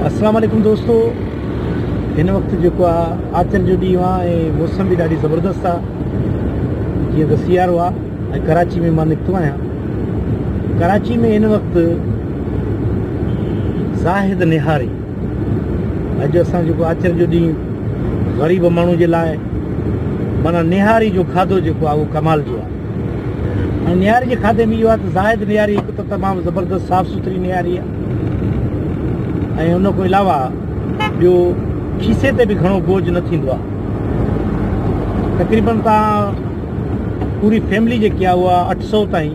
السلام عليڪم دوستو هن وقت جيڪو آ آچر جو ڏينهن آ ۽ موسم به ڏاڍي زبردست آ جيئن ته سيارو آ ۽ ڪراچي ۾ مان نڪتو آهيان ڪراچي ۾ هن وقت زاهد نهاري اڄ اسان جيڪو آچر جو ڏينهن غريب ماڻهو جي لاء مانا نهاري جو کاڌو جيڪو آهي اهو ڪمال جو آهي ۽ نهاري جي کاڌي ۾ اهو آهي ته زاهد نهاري هڪ ته تمام زبردست صاف سٿري نهاري آهي ۽ ان کان علاوه ٻيو کيسي تي به گهڻو بوجھ نه ٿيندو آهي تقريبن تان پوري فيملي جيڪي آهي اها اٺ سؤ تائين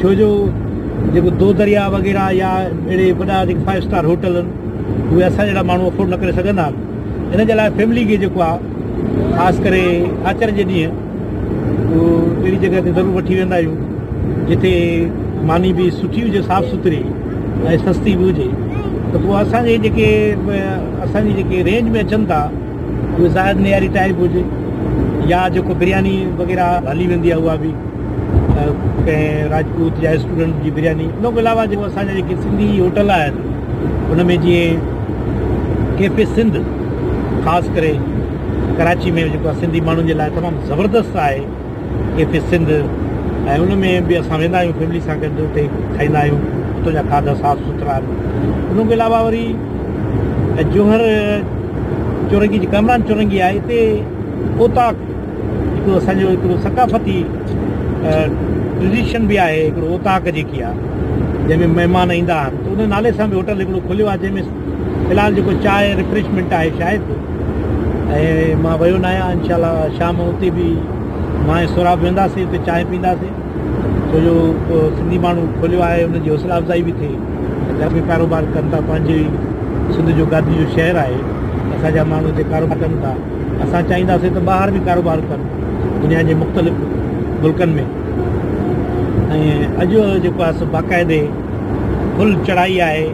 ڇو جو جيڪو دو درياهه وغيره يا اهڙي وڏا جيڪي فائيو اسٽار هوٽل آهن اهي اسان جهڙا ماڻهو افورڊ نه ڪري سگهندا آهن ان جي لاء فيملي کي جيڪو آهي خاص ڪري آچر جي ڏينهن اهو اهڙي جڳهه تي ضرور وٺي ويندا آهيون جتي ماني به سٺي هجي صاف سٿري ۽ سستي به هجي ته پوء اسان جي جيڪي اسان جي جيڪي رينج ۾ اچن ٿا اهو زاهد نياري ٽائيپ هجي يا جيڪو برياني وغيره هلي ويندي آهي اها به ڪنهن راجپوت يا اسٽوڊنٽ جي برياني ان کان علاوه جيڪو اسان جا جيڪي سنڌي هوٽل آهن ان ۾ جيئن ڪيفي سنڌ خاص ڪري ڪراچي ۾ جيڪو سنڌي ماڻهن جي لاء تمام زبردست آهي ڪيفي سنڌ ۽ ان ۾ به اسان ويندا آهيون فيملي سان گڏ اتي کائيندا آهيون اتو جا کاڌا صاف سٿرا آهن ان کان علاوه وري جوهر چورنگي جي ڪامران چورنگي آهي اتي اوطاق هڪڙو اسان جو هڪڙو ثقافتي ٽريڊيشن به آهي هڪڙو اوطاق جيڪي آهي جنهن ۾ مهمان ايندا آهن ته ان نالي سان به هوٽل هڪڙو کليو آهي جنهن ۾ في الحال جيڪو چاهه ريفريشمينٽ آهي شايد ۽ مان ويو نه آهيان انشاء الله شام جو اتي به مان ۽ سهراب وينداسين اتي چانهه پينداسين ڇو جو سنڌي ماڻهو کوليو آهي ان جي حوصلا افزائي به ٿئي گهر ۾ ڪاروبار ڪن ٿا پنهنجي سنڌ جو گادي جو شهر آهي اسان جا ماڻهو هتي ڪاروبار ڪن ٿا اسان چاهينداسين ته ٻاهر به ڪاروبار ڪن دنيا جي مختلف ملڪن ۾ ۽ اڄ جو جيڪو آهي سو باقاعدي فل چڙهائي آهي